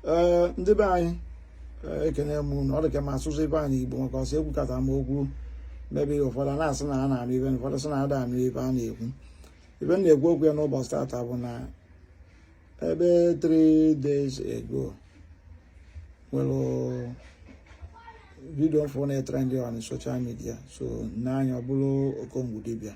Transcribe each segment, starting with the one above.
ee ndị be anyị e, ekene m unu ọ dị ka m asụsụ be anyị igbo maka ọsọ ekwukata m okwu mebe ụfọdụ na-asị na a na-anụ ive ụfọdụ sị na ada anụ ive a na-ekwu ive m na-ekwu okwu ya n'ụbọchị tata bụ na ebe 3 days ago nwere vidio m fụ na-etrendị on social media so nna anyị ọ bụrụ okongwu dibịa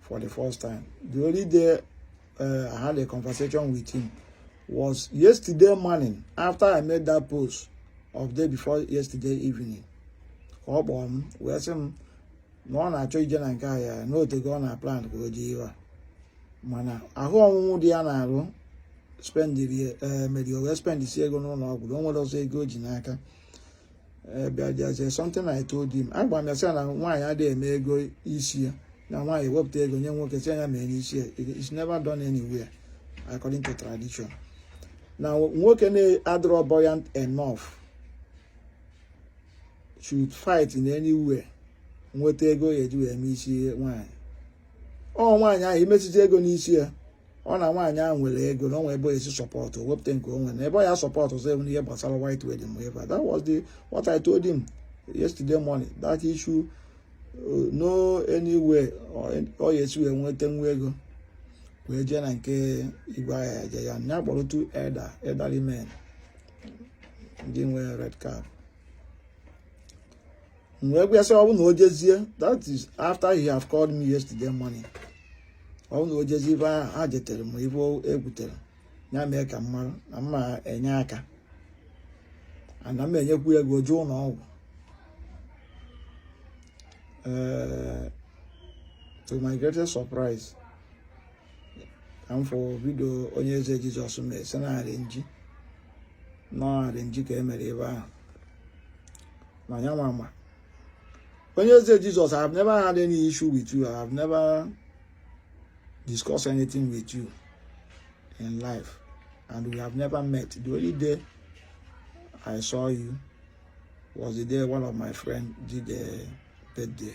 for the first time. The only day uh, I had a conversation with him was yesterday morning after I made that post of day before yesterday evening. Ka ọ kpọrọ m wee sị m na ọ na-achọ ije na nke ahịa ya na o tego ọ na-plan ka o je ihe a mana ahụ ọnwụnwụ dị ya n'arụ spendiri eh, meri o wee spendisi ego n'ụlọ ọgwụ na o nwerọzị ego o ji n'aka but there's something I told him agwa m ya sị na nwaanyị adịghị eme ego isi ya na nwaanyị wepụta ego nye nwoke sị ya mee n'isi ya it's never done anywhere according to tradition na nwoke na-adịrọ buoyant enough should fight in anywhere nweta ego ya eji wee mee isi nwaanyị ọ nwaanyị ahụ imesizi ego n'isi ya ọ na nwaanyị ahụ nwere ego na o nwee ebe o si sọpọtụ wepụta nke o nwere na ebe ọ ya sọpọtụzị bụ ihe gbasara white wedding whatever that was what I told him yesterday morning that issue uh, no anyway ọ ya esi wee nweta nwa ego wee jee na nke igwe agha ya je ya nya kpọrọ two elder elderly men ndị nwere red cap m wee gwa ya sị ọ bụ na o jezie that is after he have called me yesterday morning ọ bụ na o jezie ive ha jetere m ive e kwutere ya mee ka m mara na m ma-enye aka a na m ma-enyekwu ya ego o jee ụlọ ọgwụ to my greatest surprise ka m fụ vidio onyeze jesus mere sị na arrangee na arrangee ka e mere ebe ahụ na ya nwa ma onyeze jesus i have never had any issue with you i have never discussed anything with you in life and we have never met the only day i saw you was the day one of my friends did a birthday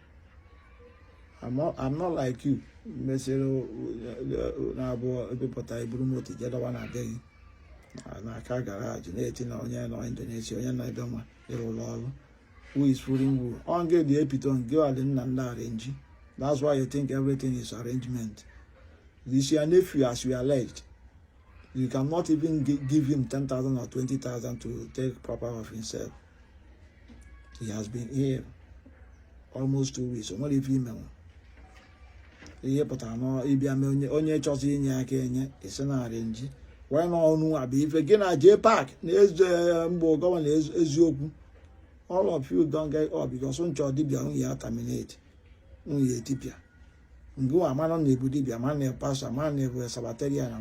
I'm not, I'm not like you mesịrị na-abụ i bupụta i buru moto je dọwa na be gị na car garage na-eti na onye nọ indonesia onye nọ ebe nwa ịrụ ụlọ ọrụ who is fooling who ọ gị dị epitome gị ọdị nna nna arrangee that's why you think everything is arrangement this your nephew as you alleged you cannot even give him 10,000 or 20,000 to take proper of himself He has been here almost two weeks. O nwere ife i mere. Ihe pụtara na ịbịa mee onye chọzi inye aka enye esi na arrange. Wee na ọnụ a bụ ife gị na J Pac na eze mgbe Governor Eziokwu. All of you don gang up because unu chọ dibịa unu ya terminate unu ya-etipịa. Ngịwa amarọ na ị bụ dibia amarọ na pastor amarọ na ị bụ Sabbatarian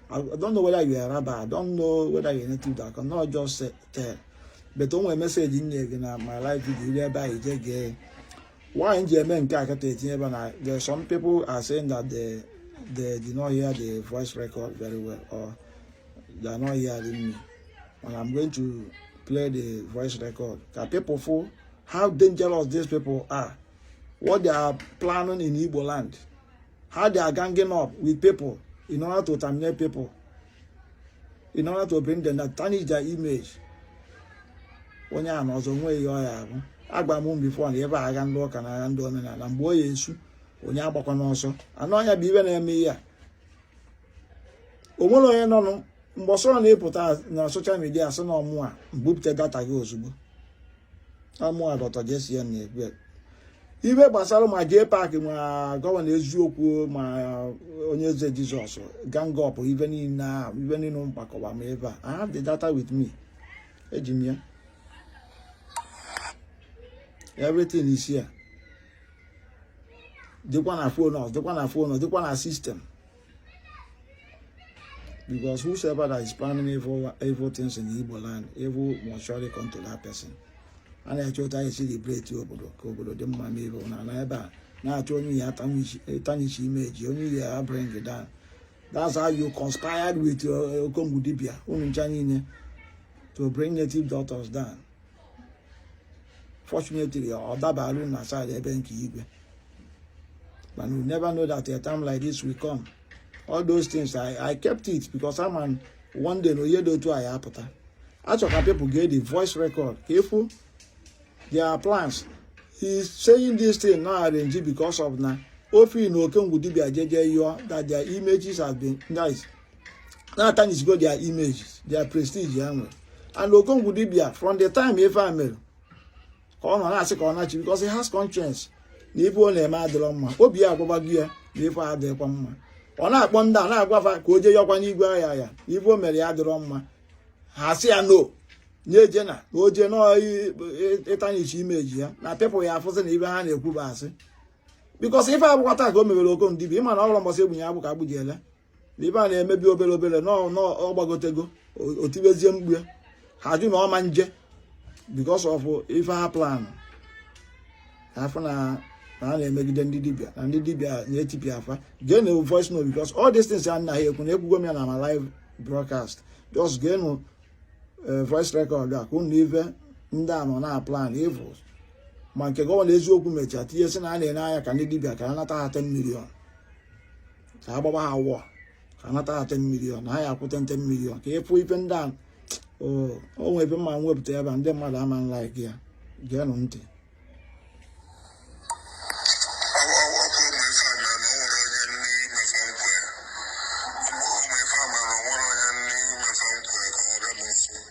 I don't know whether you are a rabbi I don't know whether you are native doctor cannot just tell but o nwere message m nyere gị na my live video iri ebe anyị jee gee nwaanyị ji eme nke a kata etinye ebe na there some people are saying that they they did not hear the voice record very well or they are not hearing me and I'm going to play the voice record ka people fụ how dangerous these people are what they are planning in Igbo land, how they are ganging up with people in order to terminate people, in order to bring them down tarnish their image. onye a na ọzọ nwee ihe ọ ya-abụ agwa m unu before na ebe agha ndị ụka na agha ndị omenala mgbe ọ ya-esu onye agbakwana ọsọ and ọ nya bụ ibe na-eme ihe a o nwere onye nọ mbọsị ọ na-epụta na social media a sị na ọ mụwa mbupụta data gị ozugbo ọ mụwa dọta jesi ya na-ekwu ibe gbasara ma J Pac ma Governor Eziokwu ma Onyeze Jesus gang up ibe niile a ibe niile m kpakọba ha ebe a I have the data with me eji m ya everything is here dịkwa na phone ọzọ dịkwa na phone ọzọ dịkwa na system because whosoever that is planning evil, evil things in Igbo land evil must surely come to that person a na-eche otu a ya-esi liberate obodo ka obodo dị mma ma ebe na na ebe a na-achọ onye a ya tarnish image onye a ya bring down that's how you conspired with uh, Okongwu Dibia unu ncha niile to bring native doctors down fortunately ọ dabaru na side ebe nke igwe but you never know that a time like this will come all those things i i kept it because i'm an one day na onye dị otu a ya apụta achọ ka people get the voice record ka efu their plans he is saying this thing now arrange because of na ofi na okengwu dibia jeje yụọ that their images have been nice na-atarnishigo their images their prestige and Okongwu dibia from the time ife a mere ka ọ nọ na-asị ka ọ nachi because he has conscience na ife ọ na-eme adịrọ mma obi ya agwago ya na ife a adịghịkwa mma ọ na-akpọ ndị a na-agwafa ka o jee yọkwa n'igwe ahịa ya ife o mere ya adịrọ mma ha sị ya no na-eje na na o jee na-etarnish image ya na people ya-afụsị na ibe ha na-ekwu bụ asị because ife abụkwata ka o mewere Okongwu dibia ịma na o ruo mbọsị egbunye agbụ ka agbụ ji ele ibe a na-emebi obere obere na ọ gbagotego o tibezie mkpu ya ha jụ na ọ ma nje because of ife ha plan a fụ na na a na-emegide ndị dibia na ndị dibia na-etipịa afa gee nụ voice note because all these things a na-ekwu na ekwugo m ya na my live broadcast just gee nụ eh, voice record a ka unu nụ ife ndị a nọ na plan evils ma nke Governor Eziokwu mechaa tinye sị na a na-enye anya ka ndị dibia ka a nata ha 10 million ka a gbawa ha wụọ ka anata ha 10 million na ha ya-akwụ 10 million ka ị fụ ife ndị a o nwe ife m ma-ewepụta ebe a ndị mmadụ ama like ya geenụ ntị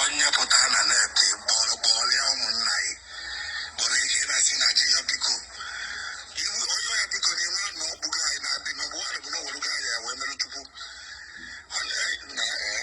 onye pụta na net kpọrọ kpọrọ ya ụmụnna ya kpọrọ ihe ị na-asị na je ya biko iwu onye ya biko na iwe na ọkpụgo anyị na-adị ma ọ bụ nwaanyị bụ na ọ werugo anyị ya wee mere chukwu onye na ee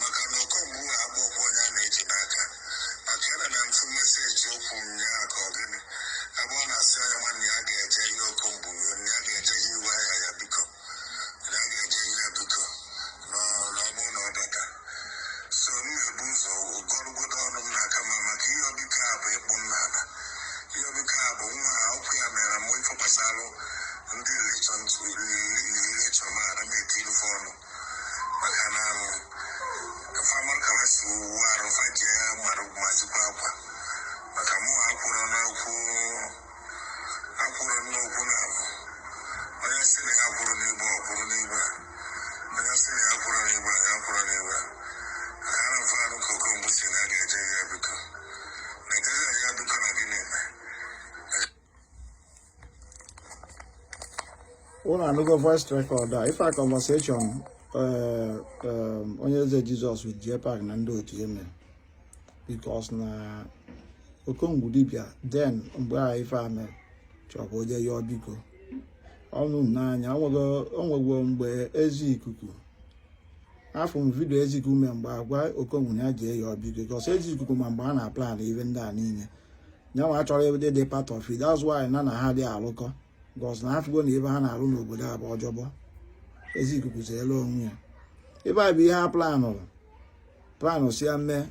maka na okongwu ha agba okwu onye a na-eji n'aka maka ya na na mfu meseji okwu nyaa ka ọ gịnị ebe ọ na-asị onye nwanne ya ga-eje ihe okongwu na ya ga-eje ihe iwe ahịa ya biko na ya ga-eje ihe ya biko na ọ na ọ bụrụ na ọ bata so m na-ebu ụzọ gọrụgodo ọnụ m n'aka ma maka ihe ọbịka a bụ ịkpụ m n'ala ihe ọbịka a bụ nwa ha ụkwụ ya mere mụ ife gbasara ndị relation to relation ma ara m eti ife ọnụ maka na ife amara ka ha si wuo arụ fa ji ya mara ka m si akwa maka mụ akwụrụ n'okwu akwụrụ n'okwu na abụ onye si na ya kwụrụ n'igba ọ kwụrụ n'igba onye si na ya kwụrụ n'igba ya kwụrụ n'igba maka na mfe arụ ka okongwu si na a ga-eje ya biko na-ejeje ya biko na gịnị mee unu anụgo voice record a ife a conversation eh, eh, onyeze jizọs with J-Pac na ndị otu eme because na okongwu dibia then mgbe a ife a mere chọbụ ije yọọ biko ọnụ n'anya o nwego mgbe ezi ikuku afụ m vidio ezi ikuku mee mgbe ọ gwa okongwu ya jee yọọ biko because ezi ikuku ma mgbe a na-aplan ife ndị a niile nyanwa achọrọ ebe dị part of it that's why na na ha dị alụkọ because na ọ fụgo na ife ha na-alụ n'obodo a bụ ọjọbọ ezi ikuku zeere onwe ya ebe a bụ ihe a planụrụ planụ si ya mee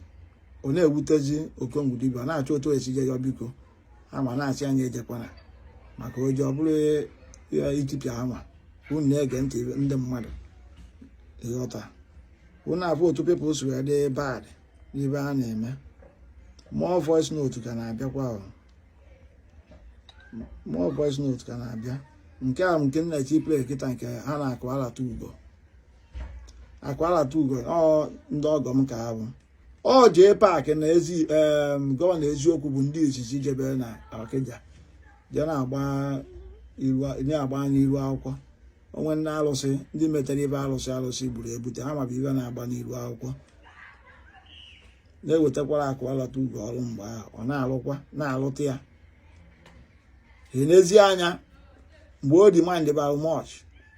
ọ na-ewutezi okongwu dibia na-achọ otu esi je ya biko ha ma na-asị nya ejekwana maka o jee ọ bụrụ ya etipịa ha ma unu na-ege ntị ndị mmadụ ị ghọta unu afụ otu people si wee dị bad n'ife a na-eme more voice note ka na-abịakwa more voice note ka na-abịa nke a nke nna chi play kịta nke ha na akụbalata ugo akụbalata ugo ọ ndị ọgọ m ka ha bụ ọ J-Pac na gọvanọ eziokwu bụ ndị izizi jebere na ọkịja jee na-agba n'iru akwụkwọ o nwee ndị alụsị ndị metere ife alụsị alụsị gburu ebute ha mabụ ibe na-agba n'iru akwụkwọ na-ewetakwara akụ alọta ugo ọrụ mgbe ahụ ọ na-alụkwa na-alụta ya n'ezi anya mgbe demand bara much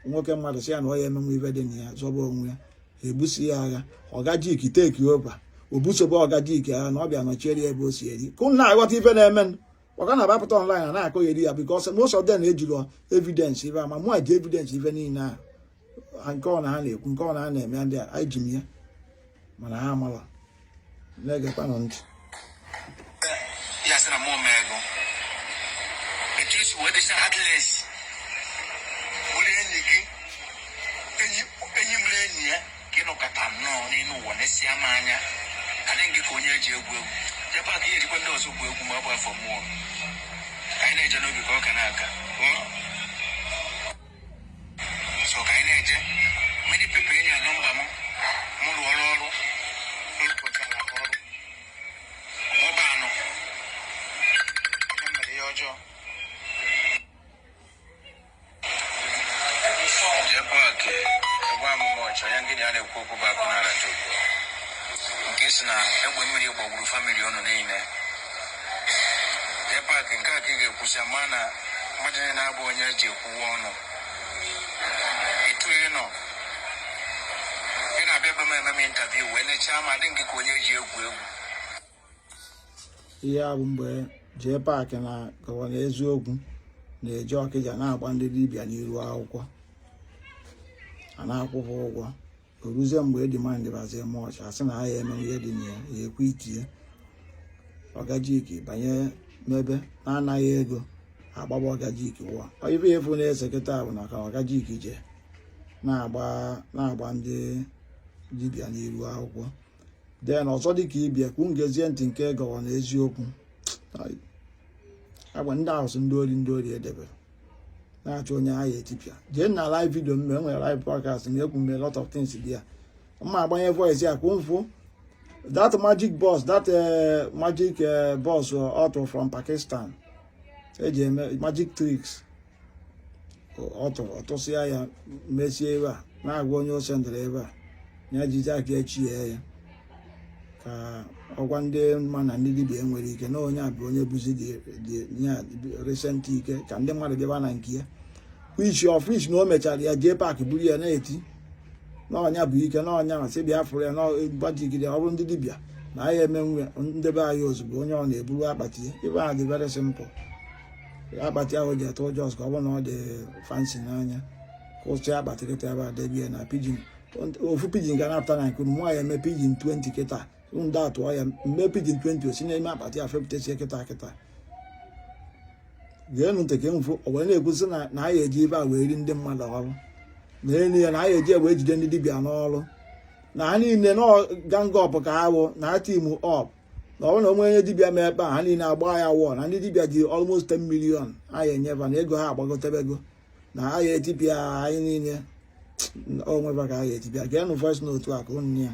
nwoke mmadụ sị ya na ọ ya emenwe ife dị na ya zọba onwe ya ebusi ya agha ọgajik take over o busobe ọgajik agha na ọ bịa nọchiere ya ebe o si eri ka unu na-aghọta ife na-emenụ maka na a bapụta online a na-akọgheri ya because most of them ejirọ evidence ife a ma mụ ji evidence ife niile a nke ọ na ha na-ekwu nke ọ na ha na-eme ndị a anyị ji m ya mana ha amala na-egekwanụ ntị ka ị nọkọta nnọọ n'elu ụwa nesịa m anya adị m gị ka onye eji egwu egwu Jpac ihe ejikwa ndị ọzọ gwu egwu ma ọ bụ afọ mmụọ ka anyị na-eje n'obi ka ọ ka na-aga so ka anyị na-eje many people in Anambra m m rụọ ọrụ ọrụ rụpụtara ọrụ ọba anọ o mere ihe ọjọọ nke sị na egbe mmiri gbagburu family unu niile Jpac nke a ka ị ga-ekwusi ma na mmadụ niile na-abụ onye eji ekwuwe ọnụ etu ị nọ ị na-abịa ebe m eme m interview wee nechaa m adị m gị ka onye eji egwu egwu ihe a bụ mgbe Jpac na gọvanọ eziokwu na-eje Ọkịja na-agba ndị dibịa n'iru akwụkwọ a na-akwụbu ụgwọ o ruzie mgbe demand bazie much a sị na a ya-eme ihe dị na ya ya ekwe itinye ọgajiki banye n'ebe na-ana ha ego agbaba ọgajiki wụọ ife efu na-ese kịta bụ na ka ọgajiki jee na-agba ndị dibịa n'iru akwụkwọ then ọzọ dịka ibe ya ka unu gezie ntị nke gọvanọ eziokwu agba ndị ahụ sị ndị ori ndị ori edebere na-achọ onye ha ya-etipịa jee na live video mme e nwere live podcast na-ekwu mme lot of things dị ya mma agbanye voice ya ka unu fụ that magic box that eh, magic eh, box ọ tụ eh, from Pakistan eji eme magic tricks ọ tụrụ ọ tụsịa ya mesie ebe a na-agwa onye ọ sendịrị ebe a ya jide aka echie ya ka ọ gwa ndị mmadụ na ndị dibia nwere ike na onye a bụ onye bụzi dị recent ike ka ndị mmadụ bịaba na nke ya which of course na o mechara ya Jpac buru ya na-eti na onye a bụ ike na onye a masị bịa fụrụ ya n'gbajigide ọ bụrụ ndị dibịa na anyị emenwe ndebe anyị ozugbo onye ọ na-eburu akpati ya ife ahụ dị very simple akpati ahụ ji atụ ụjọ ka ọ bụrụ na ọ dị fancy n'anya kwụsị akpati kịta ebe a debie na pigeon ofu pigeon ga na-apụta na nke nwa ya eme pigeon 20 kịta ndị atụọ ya mme pigeon 20 esi n'ime akpati a fepụtasie kịta kịta geenụ ntị ka mfụ o wee na-ekwusị na na anyị eji ife a wee ri ndị mmadụ ọrụ na elu ya na anyị eji wee jide ndị dibịa n'ọrụ na ha niile na gang up ka ha wụ na ha team up na ọ bụrụ na o nwee onye dibịa mekpa ha niile agba ya war na ndị dibịa ji almost 10 million a ya-enye fa na ego ha agbagotebego na ha ya-etipịa anyị niile onweba ka ha ya-etipịa geenụ voice note a ka unu nụ ya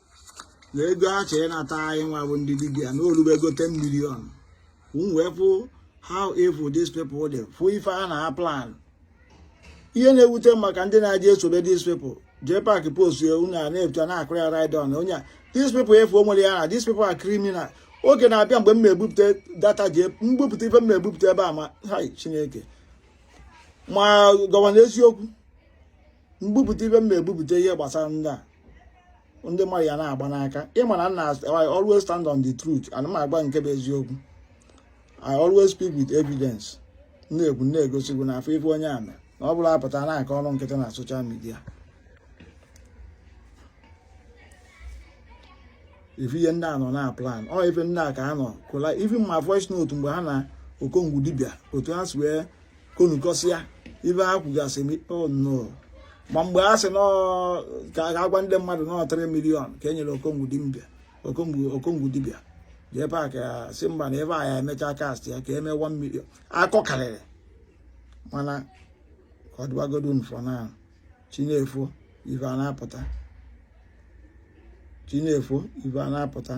na ego a chọrọ ịnata anyị nwa bụ ndị dibịa na o lubego 10 million m wee fụ how evil these people dị fụ ife ha na-plan ihe na-ewute m maka ndị na-eji esobe these people Jpac post ya unu a na-ebuta na-akụrụ ya ride on onye a these people efu o nwere ya na these people are criminal oge na-abịa mgbe m na-ebupụta data jee m bupụta ife m na-ebupụta ebe a maka chineke m agwa unu eziokwu m bupụta ife m na-ebupụta ihe gbasara ndị a ndị mmadụ ya na-agba n'aka ị ma na nna I always stand on the truth ana m agba nke bụ eziokwu I always speak with evidence na-ekwu na-egosi unu na-afụ ife unu ya-ama na ọ bụla apụta na-aka ọrụ nkịtị na social media ife ihe ndị a nọ na-plan ọ ife ndị a ka ha nọ kọla even ma voice note mgbe ha na okongwu dibịa otu ha si wee kọ ọnụ kọsịa ife ha kwugasị m oh no ma mgbe ha sị ka a ga-agwa ndị mmadụ na ọ 3 million ka e nyere okongwu dibịa Jpac ya sị mba na ife a ya-emechaa cast ya ka e mee 1 million akụkọ karịrị mana ka ọ dịwagodo unu fụ na chi na-efo ife a na-apụta chi na-efo ife a na-apụta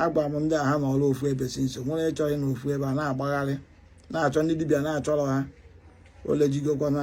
agwa m ndị a ha anọrọ ofu ebe si nso nwere ịchọghị ịnọ ofu ebe ha na-agbagharị na-achọ ndị dibịa na-achọrọ ha ole jigokwa na